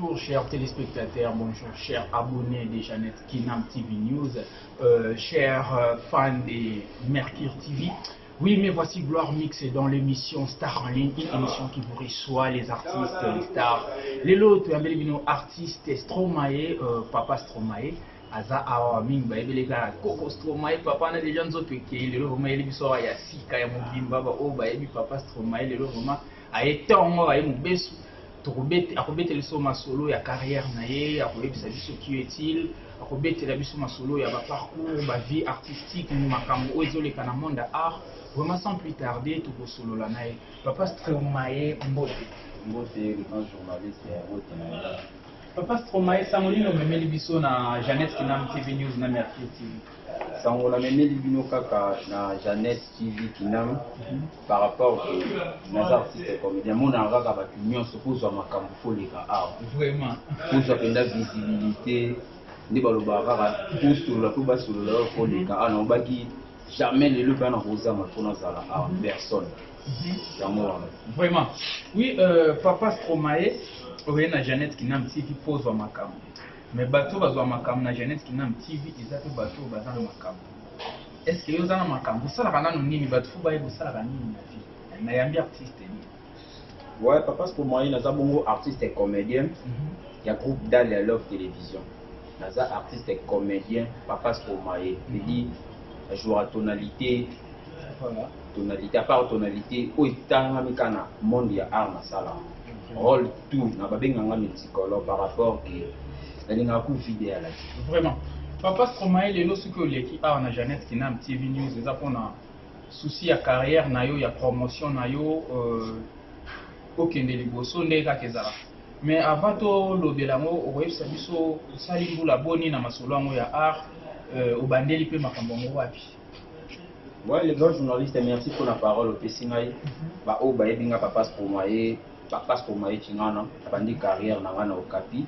Bonjour chers téléspectateurs, bonjour chers abonnés de Jeannette Kinam TV News, euh, chers euh, fans de Mercure TV. Oui, mais voici Gloire Mix dans l'émission Star en ligne, une émission qui vous reçoit les artistes, les stars. Les lots, tu as un artiste Stromae, euh, Papa Stromae. aza awa mingi bayebele kaka koko stromae papa na deja nzoto ekei lelo vraimen ayeli biso awa ya sika ya mobimba baoyo bayebi papa stromae lelo vraimen aye ntongo aye mobesu Tokobete, akobetela biso masolo ya carrière na ye, akoyebisa biso qui est-il, akobetela biso masolo ya ba parcours, ba vie artistique, makambo oyo ezoleka na monde ya art. Vraiment sans plus tarder, tokosolola na ye. Papa Stromae, mbote. Mbote, le grand journaliste ya mbote na nga. Papa Stromae, sango nini omemeli biso na Jeannette Kinam TV News na Mercure TV? Sango namemeli bino kaka na Jeannette TV Kinam. par rapport que naza artiste ya comédien amonaka kaka bato nyonso kozwa makambo koleka awa vraiment kozwa mpenza visibilité nde balobaka kaka kosolola mpo basolola oyo koleka awa naobaki jamais lelo mpe wana kozanga mpo nazala awa personne mhm. yango wana vraiment oui euh, papa stromae oye na jeannette kinam tv mpo ozwa makambo mais bato bazwa makambo na jeannette kinam tv eza mpe bato baza na makambo Est ce que yo oza na makambo osalaka nanu nini batu fo bayeba osalaka nini na vie na yambi artiste nini ouais papa pour moi naza bongo artiste et comédien mm -hmm. ya groupe Dalia Love Télévision naza artiste et comédien papa pour moi je mhm. dis jouer à tonalité voilà tonalité à part tonalité oyo etangami kaka na monde ya art masala role tout na babenga nga multicolo par rapport ke nalingaka ku vide ya laki vraiment papa stromae lelo soki oleki awa na jeannette kinam tv news eza mpona souci ya carrière na yo ya promotion na yo euh, okende liboso nde kaka ezala mais avant tolobela yango okoyebisa biso osali mbula boni na masolo yango ya art euh, obandeli mpe makambo yango wapi Ouais, le grand journaliste, merci pour la parole. Opesi ngai mhm. ba oyo bayebi nga papa Stromae, papa Stromae Chingana, abandi carrière na nga na Okapi.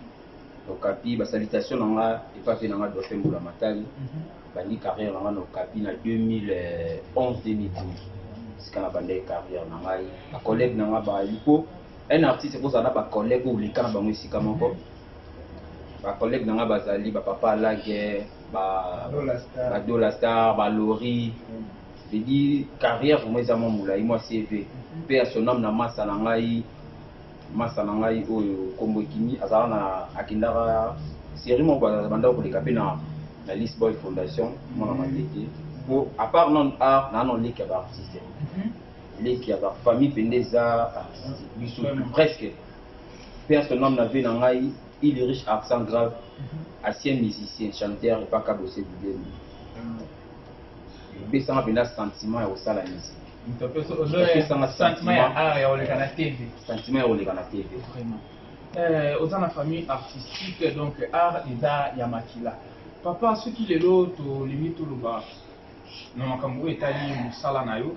Okapi ba salutations na nga epa pe na nga Dauphin Mbula Matali. Mhm. Bandi carrière na nga na Okapi na 2011 2012. Sika na bandi carrière na ngai, ba collègues na nga ba lipo. Un artiste ko zala ba collègues ou likana bango esika moko. Ba collègues na nga bazali ba papa Lague ba dollar star ba lori je dis carrière vraiment eza mwa molai mwa cv mpe ya sonam na masa na ngai masa na ngai oyo nkombo ekimi azala na akendaka série moko bandako koleka mpe na na lisboy fondation mwana matete mpo à part non art naa non leki ya baartiste leki ya bafamille mpenza eza biso presque mpe ya sonam na vie na ngai Il est riche absent grave ancien musicien chanteur epa kabose budembi epesanga mpenza sentiment ya kosala musique epesanga sentiment ya art ya koleka na tv sentiment ya koleka na tv euh, oza na famille artistique donc art eza ya makila papa soki lelo tolingi toloba na makambo oyo etali mosala na yo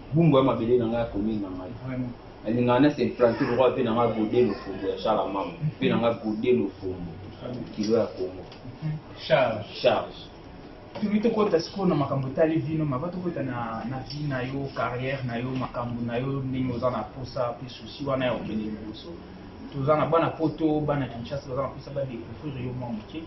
bumbu ya mabele na ngai ya commune na ngai nalingaka na se implante lokola mpe na ngai gode lofombo ya charles amama mpe na ngai gode lofombo kilo ya congo charge charge tuli tokota sikoyo na makambo etali vino maba tokota na, na vie na yo carrière na yo makambo na yo ndenge oza na posa mpe susi wana ya kokende liboso toza na bana poto bana kinshasa baza na posa badécouvrir yo mwa moke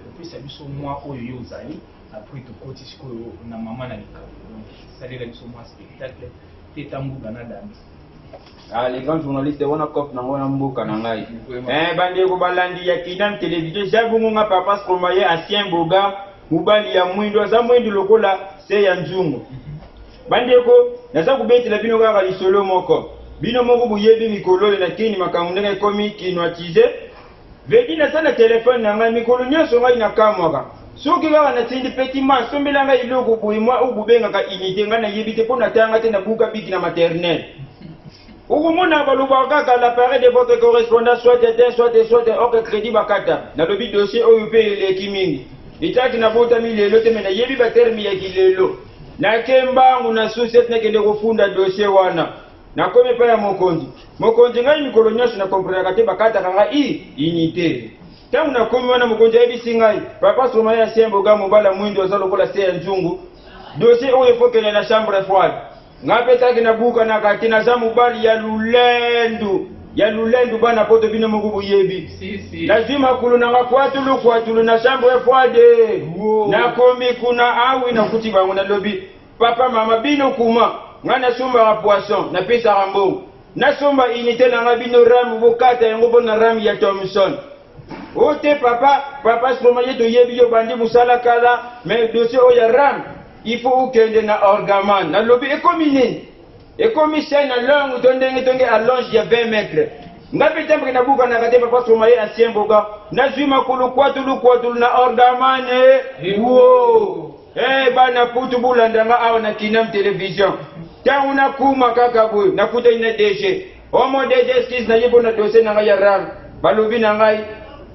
opesa biso mwa oyo yo ozali Après tokoti sikoyo na maman na likambo donc salela biso mwa spectacle teta mbuga na danza Ah, les grands journalistes, on a cop dans on mboka na ngai. Eh bande ko balandi ya kidam télévision, jabungu nga papa stromaye ancien boga, mubali ya mwindo, aza mwindo lokola se ya nzungu. Bande ko naza kubetela bino kaka lisolo moko. Bino moko boyebi mikolo na kini makambo ndenge ekomi kinoatize. Vedi naza na telephone na ngai mikolo nyonso ngai na kamwaka soki kaka natindi petit man sombela ngai eloko boye mwa oyo bobengaka unité ngai nayebi te mpo natanga te nabuka biki na maternel okomona balobaka kaka l'appareil de votre correspondant soit eteint soit soit ok crédit bakata nalobi dossier oyo mpe eleki mingi etaki nabotami lelo te me nayebi baterme ya kilelo nake mbangu na susi ete nakende kofunda dossier wana Nakomi epai ya mokonzi. Mokonzi, ngai mikolo nyonso na komprenaka te, bakataka ngai i inite. Ntango nakomi wana, mokonzi ayebisi ngai, papa Stromae ya Sien Boga, mobala mwindu, aza lokola se ya nzungu. Dosie oyo efokele na chambre froide. Ngai mpe taki na bukanaka te, naza mobali ya lulendu. Ya lulendu bana poto bino moko boyebi. Si, si. Nazwi makolo na nga kwatulu kwatulu na chambre froide. Nakomi kuna awi nakuti bango nalobi Papa mama bino kuma nga na sombaka poisson na pesaka mbongo na somba unité na nga bino ram bokata yango pona ram ya Thomson ote oh, papa papa soma ye toyebi yo bandi musala kala mais dossier oyo ya ram il faut okende na orgaman nalobi ekomi nini ekomi se na longue to ndenge tonge allonge ya 20 mètre nga mpe tambaki nabukanaka te papa soma ye ancien boga nazwi makolo kwatulu kwatulu na orgaman ewo Hey, eh, bana poto bolanda nga awa na kinam television ntango nakuma kaka boye nakutani na dg omo dg skis naye mpo na dosie na ngai ya rar balobi na ngai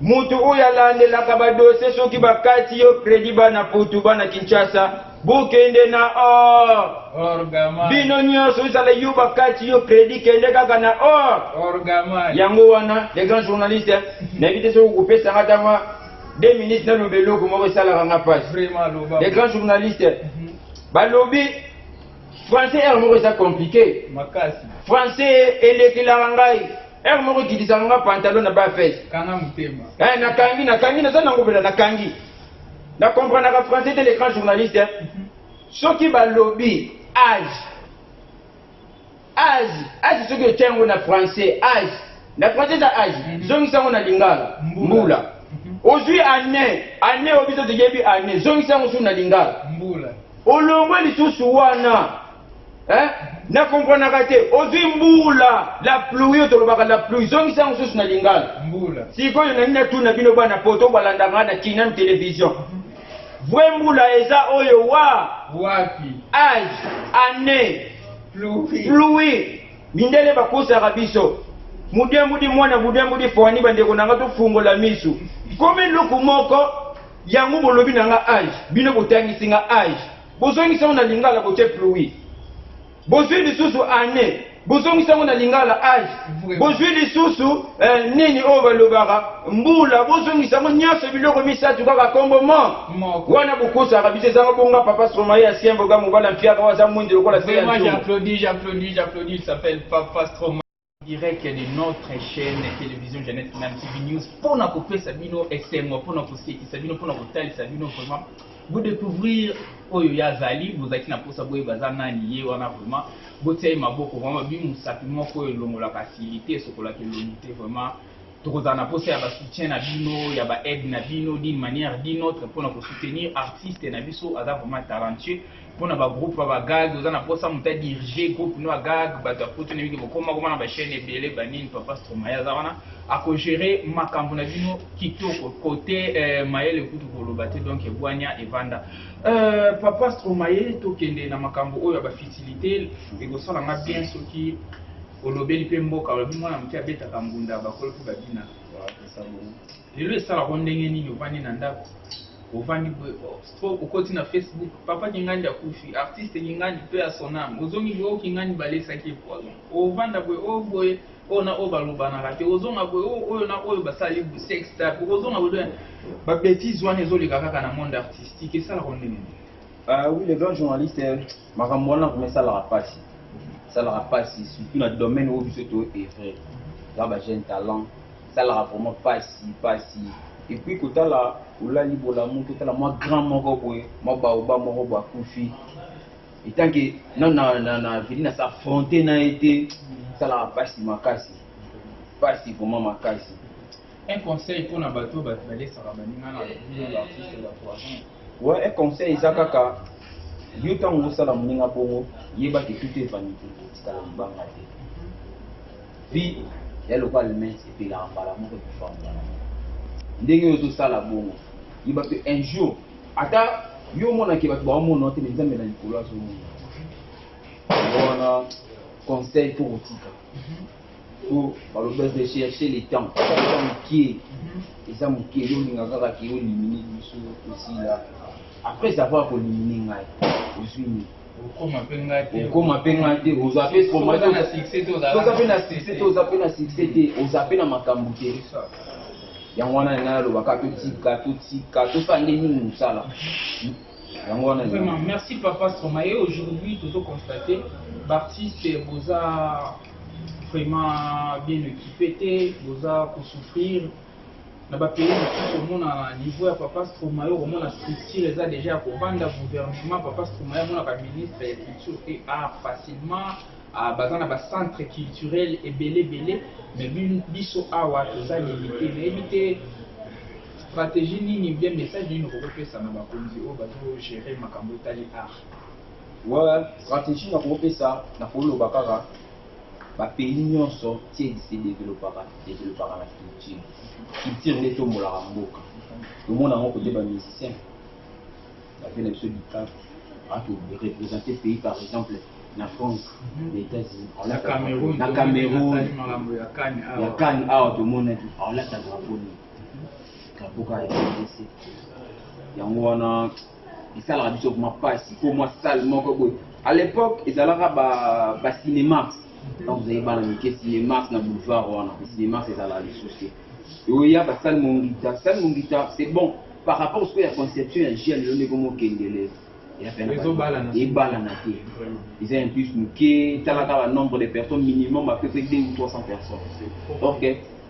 moto oyo alandelaka badosie soki bakati yo kredi bana poto bana kinshasa bokende na or bino nyonso ezala yo bakati yo kredi kende kaka na or yango wana le grand journaliste nayebi te soki okopesanga ntango deux minutes nano beloko moko esalaka nga pasi les grands journalistes mhm. balobi français heure moko eza compliqué français elekelaka ngai heure moko ekitisaka nga pantalon na bafese eh, nakangi nakangi naza nango mpela nakangi na comprenaka français te les grands journalistes mhm. soki balobi age Age, age soki otia yango na français age na français eza age mm -hmm. zongisa yango na lingala mbula, mbula. Mm -hmm. ozwi annee annee oyo biso toyebi annee zongisa yango susu na lingala mbula olongwe lisusu wana eh? na komprenaka te ozwi mbula la pluie oyo tolobaka la pluie zongisa yango susu na lingala mbula sikoyo na nini natuna bino bana poto balandaka na kinam television mhm. vrai mbula eza oyo wa wapi age annee pluwi mindele bakosaka biso mudembudi mwana mudembudi fwani bandeko na nga tofungola misu komi eloko moko yango bolobi na nga age bino botangisi nga age bozongisa yango na lingala botie pluwi bozwi lisusu ane bozongisa yango na lingala age bozwi lisusu eh, nini oyo balobaka mbula bozongisa yango nyonso biloko misato kaka kombo mo wana bokosaka biso ezanga bonga papa stromae ya sien boga mobali ya mpiaka oyo aza mwindu lokola se ya j'applaudis j'applaudis j'applaudis s'appelle papa stromae direct de notre chaîne télévision Jeannette Kinam TV News mpo na kopesa bino esengo mpo na kosekisa bino mpo na kotalisa bino vraiment vous découvrir oyo ye azali bozalaki na mposa boyeba aza nani ye wana vraiment botia ye maboko vraiment babi mosapi moko oyo elongolaka silite esokolaka elongi te vraiment tokozala na posa ya ba soutien na bino ya ba aide na bino d'une manière d'une autre pona ko soutenir artiste na biso aza vraiment talentueux pona ba groupe ya ba gag oza na posa muta diriger groupe no ya gag bato ya poto na biki bokoma koma na ba chaîne ebele ba nini papa stromaya aza wana ako gérer makambo na bino kitoko kote euh, mayele kutu koloba te donc ebwania evanda euh, papa stromaye tokende na makambo oyo ya ba fitilité ekosala nga bien soki olobeli pe mboka olobi mwana moke abetaka mbunda bakolo mpe babina lelo esalako ndenge nini ovandi na ndako ovandi boye po okoti na facebook papa kingandi akufi artiste kingandi mpe ya sonam ozongi boye oyo kingandi balesaki ye poison ovanda boye oyo boye oyo na oyo balobanaka te ozonga boye oyo oyo na oyo basali sex tape okozonga boye babetise wana ezoleka kaka na monde artistique esalako ndenge nini ah oui le grand journaliste Makambo wana vraiment esalaka pasi, esalaka pasi surtout na domaine oyo biso to evrer za ba jeune talent, esalaka vraiment pasi pasi et puis kotala olali bolamu totala mwa grand moko boye mwa baoba moko boye akufi etant que na na na na vidi na s'affronter na ye te esalaka pasi makasi pasi vraiment makasi un conseil pour na bato balesaka baninga na bino ba artiste ba poison Ouais un conseil eza kaka yo ntango ozosala moninga bongo yeba ke tout est vanité etikala libanga te vie ya lokola almens epelaka mbala moko ekufa mbala moko ndenge oyo ozosala bongo yeba mpe un jour ata yo omonake bato baomona te me nzambe na likolo azomona wana conseil mpo kotika po balobi de chercher le temps eza mokie eza mokie yo olinga kaka ke olimine biso tosila après avoir kolimine ngai ozwi nini okoma mpe ngai te okoma mpe ngai te oza mpe toza mpe na succès te oza mpe na succès te oza mpe na makambo te yango wana ngai nalobaka totika totika tosala nde nini mosala yango wana vraiment merci papa soma et aujourd'hui tozo constater b'artiste boza vraiment bien équipé te boza kosouffrir na bapays mosusu omona na niveau ya papa stromae okomona structure eza déjà ya kobanda gouvernement papa stromae amona baministre ya culture te art facilement ah, baza na bacentre culturel ebele ebele mais biso awa toza limite nayebi te Strategie nini bien message nini okoki pesa na bakonzi oyo bazo gerer makambo etali art? Ouais, strategie na kopesa na koloba kaka ba pays nyonso tied se developpaka developpaka na culture culture nde etombolaka mboka tomona yango kote ba musicien bape na biso dikap ato représente pays par exemple na france na états-unis na cameroun ya kane awa tomonaki aolata drapo nini ya mboka ya rdc yango wana esalaka biso vraimen mpasi mpo mwa sale moko boye à l'époque ezalaka bacinémas donc ozali bana mike cinémas na boulevard wana cinémas ezalaka lisusu te oya basale mongita sale mongita c'est bon par rapport sikoyo ya conception ya gel lelo ndeko mokendele ebalana te eza un plus moke talaka ba nombre de personnes minimum à peu près 2 ou 300 personnes donc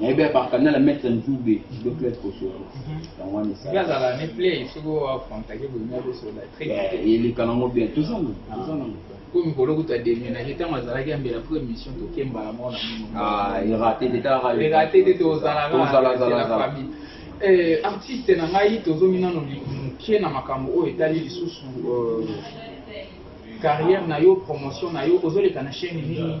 nayebi abaka na la maître nzube de club kosoko yango wana esalazala ne play soki oacontacte boyina kosola eleka nango bien toza nango toza nango po mikolo kuta demenage ntango azalaki ambela po émission tokembala moko na monoerate te erate te tozalaka artiste na ngai tozongi nano moke na makambo oyo etali lisusu carrière na yo promotion na yo ozoleka na chaîne nini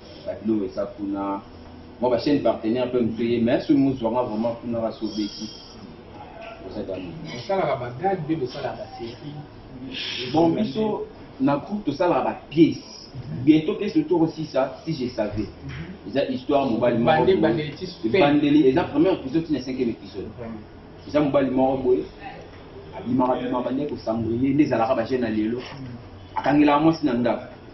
ba biloko eza kuna mwa ba chaîne partenaire mpe mosusu eye mais soki mozwanga vraiment kuna kasi obeti bosalaka ba gag mpe bosalaka ba série bon biso na groupe tosalaka ba pièce bientôt pièce oyo tokosisa si je savais mhm. eza histoire mobali mokoebandeli eza première épisode ti na cinquième épisode eza mobali moko boye abimaka bimaka bande kosambrele nde ezalaka bajeune ya lelo mhm. akangelaka mwasi na ndako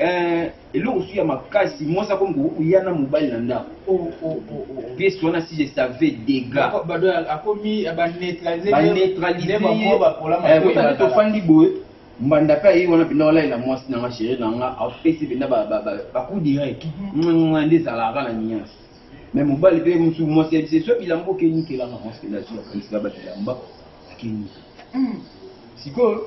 Eh, eloko mosusu ya makasi mwasi akomi koya na mobali na ndako oh, oh, oh, piese wana si je savais degabaneutralisetofandi eh, boye mbanda mpe ayei wana mpenza walalela mwasi na nga chéri na nga apesi mpenza bacoup direct mhm. nde ezalaka na niance me mobali mpe mosusu mwasi yebisi so bilamba okeni kelanga mwasi mpenza azoakanisa ba bilamba akeni hmm. sikoyo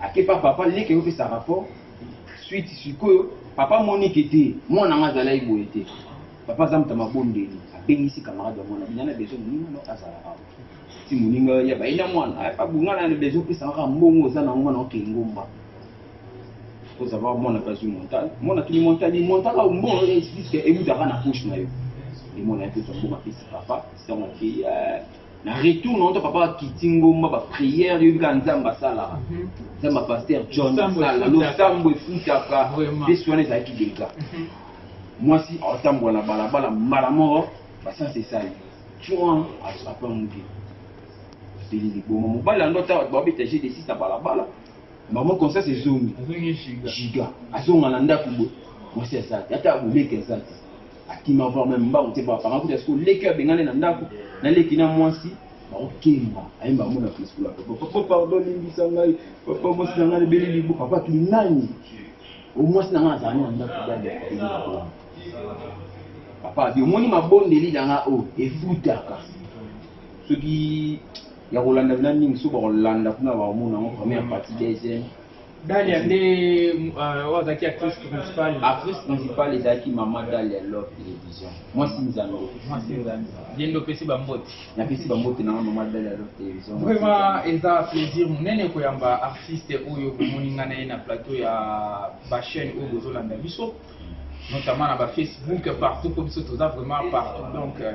Ake pa papa leke yo pesa rapport suite sikoyo papa moni ke te mwana nga azalaki boye te papa aza moto ya mabondeli abengisi camarade ya mwana bina na besoin moninga no azala awa ti moninga ya baye na mwana pa bunga na besoin pesa kaka mbongo oza na mwana oke ngomba oza ba mwana pa zui montal mwana tuni montal ni montal au mbongo ya explique emutaka na poche na yo emona ya pesa mbongo apesi papa sango ake na retour na uta papa akiti ngomba ba prière yoyebi kaka nzambe asalaka mhm. nzambe ya paster john asala losambo efutaka mpe swana ezalaki dega mhm. mwasi atambola na balabala mbala moko basansi esali twan asapa moke apeli liboma mobali yango ata bato babeta je desis na balabala mama conscience ezongi giga azonga na ndako boye mwasi aza te ata boleki aza te Akima voir meme mbangu te ba panga kutu ya siko leki oyo abengani na ndako na leki na mwasi bakokemba ayemba mona fleskola papa papa pardon limbisa ngai papa mwasi na ngai ebeli libo papa tu nani o mwasi na ngai azalani na ndako bana ebeli libo papa abi omoni mabondeli na ngai oyo efutaka soki ya kolanda bina mingi soki bakolanda kuna bakomona yango première partie deuxième Dalia nde euh, oyo azalaki actrice principale. Actrice principale ezalaki mama Dalia Love Television. Mwasi nzambe. Mwasi nzambe. Ye nde opesi bambote. Napesi bambote na mama Dalia Love Television. Vraiment eza plaisir monene koyamba artiste oyo komoni ngai na ye na plateau ya ba chaîne oyo bozolanda biso notamment na ba Facebook partout mpo biso toza vraiment partout donc euh,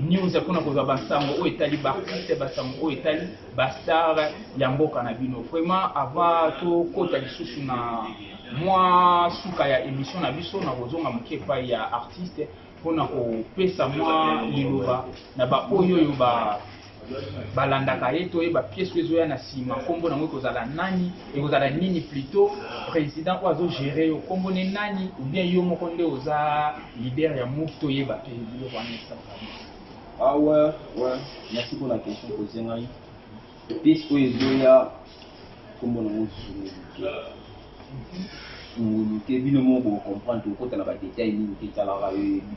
news ya mpona kozwa basango oyo etali baartiste basango oyo etali bastar ya mboka na bino vraiment avant tokota lisusu na mwa suka ya émission na biso na kozonga moke epai ya artiste mpona kopesa mwa liloba na baoyo oyo ba balandaka ye toyeba pièce oyo ezoya na nsima nkombo nango ekozala nani ekozala nini plutot président oyo azogere yo nkombo ne nani oubien yo moko nde oza leader ya move toyeba te biloko wana esalaka ah ouais ouais merci pour la question poze ngai pièce oyo ezoya nkombo nango zulu ngulu te bino moko bocomprendre tokokota na badetail nini te etalaka yo yebi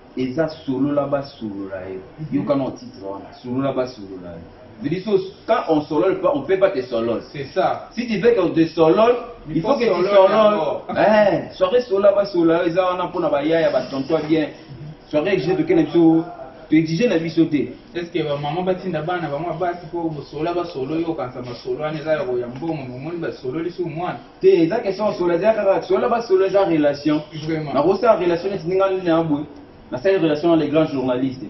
Eza solola ba solola yo. Yoka no titre wana. Solola ba solola yo. Veut dire so quand on solole pas, on peut pas te solole. C'est ça. Si tu veux qu'on te solole, il, il faut, faut que tu solole. Eh, soirée solola ba solola yo eza wana pona ba yaya ba tonton bien. Soirée que j'ai de kene biso to exiger na biso te. Est-ce que ba maman ba tinda bana ba mwa basi po solola ba solo yo kansa ba solo wana eza ya ko ya mbongo, momoni ba sololi sou mwana. te eza question ya solo eza kaka solo ba solo eza relation nakosala relation neti ndinga nini na boye nasali relation na le grand journaliste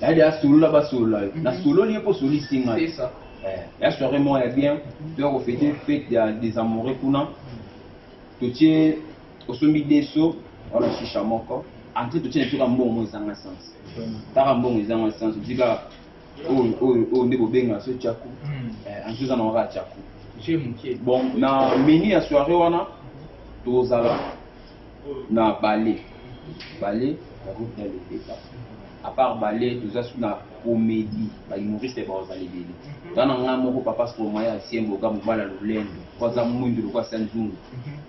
yade asolola basolola yo nasololi ye mpo osolisi ngai ya soirée moko ya bien toya kofete fete ya des amoureux kuna totie osombi deso wana shisha moko entre totie na toka mbongo ezanga sens taka mbongo ezanga sens otika oyo oyo oyo nde bobenga so chaku hmm. eh, anti oza nango kaka chaku bon na menu ya soirée wana tozala na bale bale ya groupe ya leleka à part bale toza su na comédie bahumoriste bazala ebele nga na ngai moko papa stromoya ya siemboga mobala lolendo po aza mwindu lokola sanzungu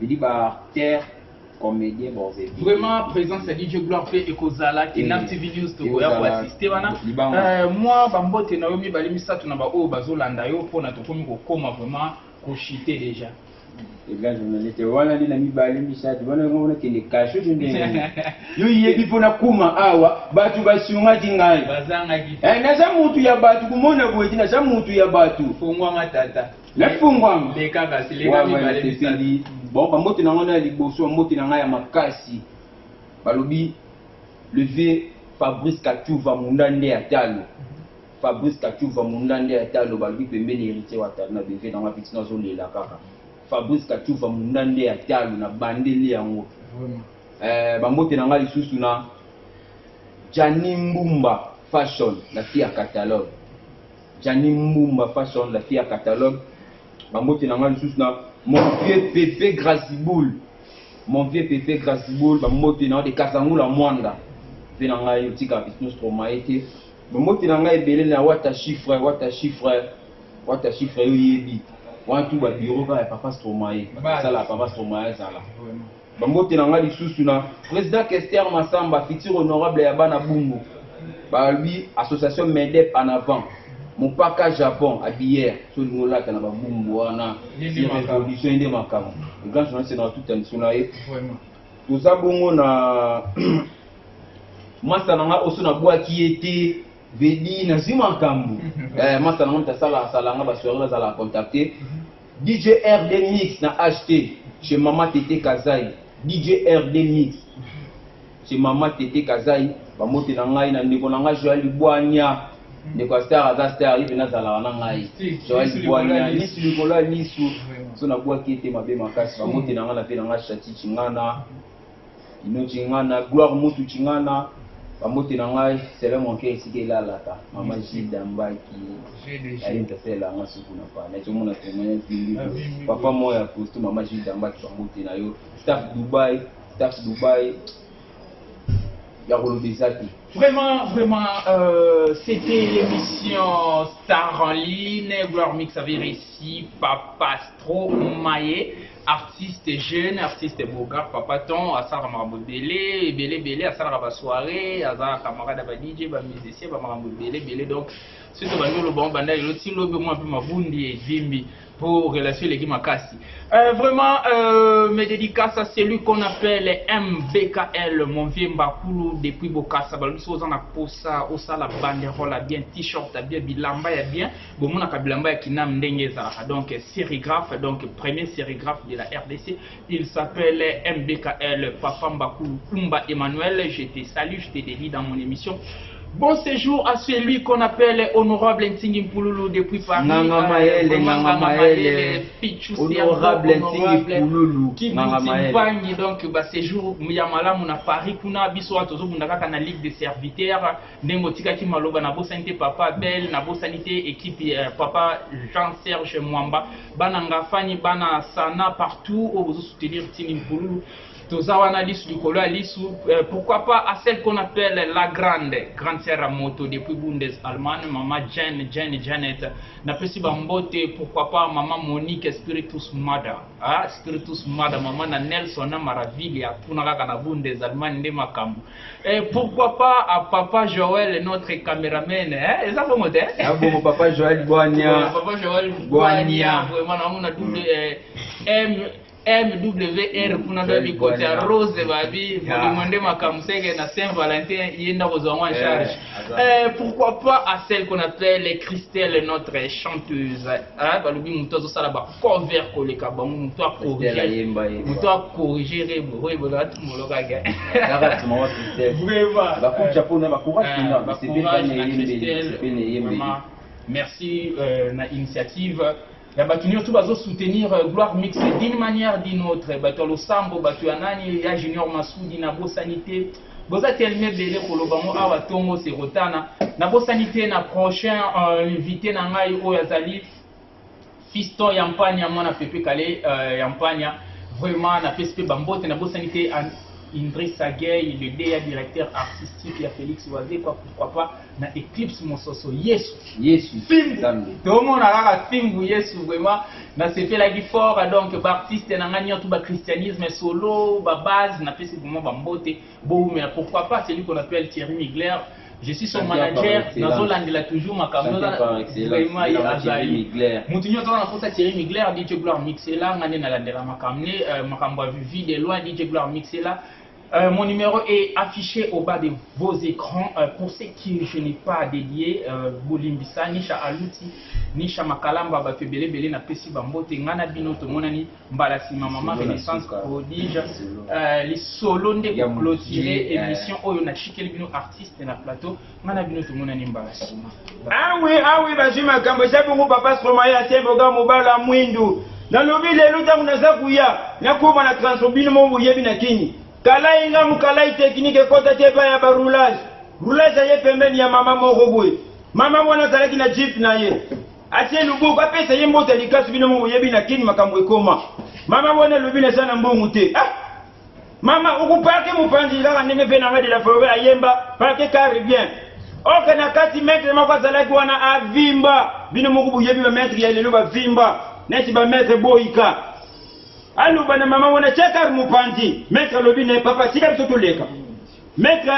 Bidi ba acteur comedien boze bidi. Vraiment présence ya DJ Gloire pe ekozala ki na TV News to koya ko assister wana. Euh moi ba mbote na yo mibale misato na ba oyo bazolanda yo pona tokomi kokoma vraiment ko chiter déjà. eza journaliste wana nde na mibale misato wana yango wana kende kasho to ndenge yo yebi mpo nakoma awa bato basungaki ngai eh, naza motu ya bato komona boye te naza motu ya bato fongwanga tata Efungwama. Leka basi, leka Wayamaya mibale, misato. nasepeli bon bambote na ngai na ya liboso bambote na ngai ya makasi balobi le vieux Fabrice Katshuva Munda nde ya talo Fabrice Katshuva Munda nde ya talo balobi pembeni Heritier Wata na beve na ngai petit nazo lela kaka Fabrice Katshuva Munda nde ya talo na bandeli yango Vraiment. eh, bambote na ngai lisusu na Gianni Mbumba Fashion na fille ya catalogue Djani Mbumba Fashion la fille à catalogue ba mbote na nga lisusu na mon vieux Pepe Graziboul mon vieux Pepe Graziboul ba mbote na de Kazangula Mwanda pe na ngai otika Bisno Stromae te ba mbote na ngai ebele na Wata Chiffre Wata Chiffre Wata Chiffre yo yebi wana tout ba bureau kaka ya Papa Stromae ba sala Papa Stromae azala Ba mbote na nga lisusu na President Kester Massamba, futur honorable ya bana Bumbu. Ba lobi association MEDEP en avant. Mopaka Japon habilleur, soki olingi olata na ba Bumbu wana, si revolution ye nde makambo. Le grand journaliste na tuta misu na ye. Toza bongo na masta na nga oso na bwaki ye te, Vedi na zui makambo. Eh masta na nga mutu asala asala nga ba soiree nazala contacter. DJ RD mix na HT chez maman Thethe Kazayi DJ RD mix chez maman Thethe Kazayi Ba mbote na ngai na ndeko na ngai Joël Bwanya Ndeko ya star aza star ye pene azalaka na ngai Joël Bwanya Lisu likolo ya lisu So na bwaki ye te mabe makasi Ba mbote na ngai na vie na ngai Shachi Chingana Ino Chingana, Gloire Mutu Chingana, bambote na ngai sele monke esika elalaka mama gilda mbaki aye ntasela nga suku na pale tomona temene pili papa moko ya kosto mama gilda mbaki bambote na yo staff dubai staff dubai ya koloba eza te vraiment vraiment euh, c'était l'émission star en ligne gloire mix avait réussi papa stro maye artiste jeune artiste beaugar papa ton asalaka makambo ebele ebele ebele asalaka ba soirée aza camarade ya ba dj ba musicien ba makambo ebele ebele donc soki tobandi oloba ngo banda lelo ti lobi omwa mpe mabundi evimbi mpo relation eleki makasi euh, vraiment euh, mes dédicaces à celui qu'on appelle mbkl mon vieux mbakulu depuis bokasa balobi soki oza na posa osala banderole ya bien t-shirt ya bien bilamba ya bien bomonaka bilamba ya kinam ndenge ezalaka donc serigraphe donc premier serigraphe de la rdc il s'appelle mbkl papa mbakulu kumba emmanuel je te salue je te dédie dans mon émission Bon séjour à celui qu'on appelle Honorable Ntingi Mpululu depuis Paris. Nganga euh, Maele, Nganga Maele. Honorable Ntingi Mpululu. Qui Mpangi, donc, bah, séjour, Muyamalamu na Paris, kuna, biso, tozo bunda kaka na Ligue des serviteurs. ndenge otikaki maloba nabosani te papa belle nabosani te ekipe ya eh, papa jean serge mwamba bana ngafani bana sana partout oyo bozosoutenir tini mpululu toza wana lisu likolo ya lisu eh, pourquoi pas à celle qu'on appelle la grande grande sœur ya moto depuis bundes allemagne mama jane jane janet napesi bambote pourquoi pas mama monique spiritus mother ah, spiritus mother mama na nelson na maravilia kuna kaka na bundes allemagne nde makambo Et pourquoi pas à Papa Joël, notre cameraman hein? Et ça, bon, hein? Ah bon, Papa Joël Boigna. Papa Joël Boigna. Vraiment, là, on a double euh, M. MWR kuna ndio bikoti ya Rose babi, mlimwende makamsenge na Saint Valentin yenda kozwa mwa charge. Euh, pourquoi pas à celle qu'on appelle Christelle, notre chanteuse. Hein, balobi muto azo sala ba cover koleka bango muto a corriger. Muto a corriger rebo. Oui, bon là tout mon loga ga. Kaka tu maman Christelle. Vraiment. Ba kucha po na ba courage euh, na ba courage na Christelle. Merci euh, na initiative. ya bato nyonso bazo soutenir euh, gloire mixe d'une manière d'une autre bato ya losambo bato ya nani ya junior masudi nabosani te boza teleme ebele koloba ngo awa ntongo sekotana nabosani te na prochain euh, invité na ngai oyo azali fiston ya mpania mwana pepe kale euh, ya mpania vraiment napesi mpe bambote nabosani te indrisa gay le deya directeur artistique ya félix wazekwa pourquoi pas na eclipse mososo yesu yesu nzambe tomona kaka fimbu yesu vraiment nasepelaki fort donc baartiste na ngai nyonso bachristianisme solo babase napesi vraiment bambote bowumela pourquoi pas celui qu'on appelle thierry migler je suis son manager nazolandela toujours makambo vraiment ye azali motu nyonso wana nakosa thierry migler dj gloire mixela ngai nde nalandela makambo ne euh, makambo ya vivi de loin dj gloire mixela Euh, mon numéro est affiché au bas de vos écrans. Euh, pour ceux qui je n'ai pas dédié, euh, Bolimbisa, Nisha Aluti, Nisha Makalamba, Batu Bele Bele, na Pesi Bambote, Ngana Bino, Tomonani, Mbalasi, ma maman, Renaissance, Prodige, euh, les solos de clôturer, émission, Oyo, na Chikeli Bino, artiste, na plateau. nga na bino tomonani mbala sima awi ah awi ah bazwi makambo eza bongo papa stromaye asemboga mobala mwindu nalobi lelo ntango naza kuya nakoma na transport bino mo boyebi na kini kalai nga mokalai teknike ekota te epai ya baroulage roulage aye pembeni ya mama moko boye mama wana azalaki na jip na ye atie loboko apesa ye mbote likasu bino mo boyebi na kini makambo ekoma mama wana elobi naza na mbongo te ah! Mama uku parke mopanzi kaka ndenge mpe nanga de la foret ayemba parke carre bien oke na kati maitre moko azalaki wana avimba bino moko boyebi bamaitre ya lelo bavimba neti bamaitre boyika aloba na mama wana tia carre mopanzi maitre alobi ne papa tika biso toleka Maitre,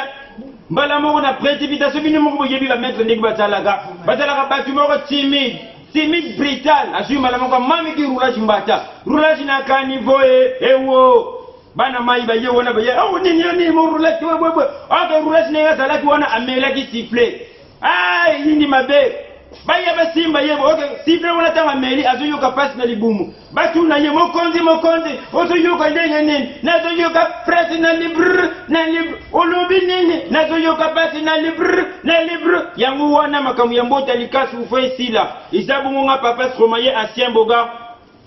mbala moko na precipitation bino moko boyebi ba maitre ndenge bazalaka, bazalaka batu moko timide, timide brutal, azui mbala moko amami ki roulage mbata, roulage na caniveau e ewo bana mai baye wana baye awo nini yo nini mo roulage webwebwe, ok roulage na ye azalaki wana amelaki sifflet Ah, yindi mabe. Baya basimba ye boke sible wana tanga meli azoyoka pasi na libumu batuna ye mokonzi mokonzi ozoyoka ndenge nini nazoyoka presi na libre na libre olobi nini nazoyoka pasi na libre na libre yango wana makambo ya mbota likasi ufa esila eza bongo nga papa stromaye asien boga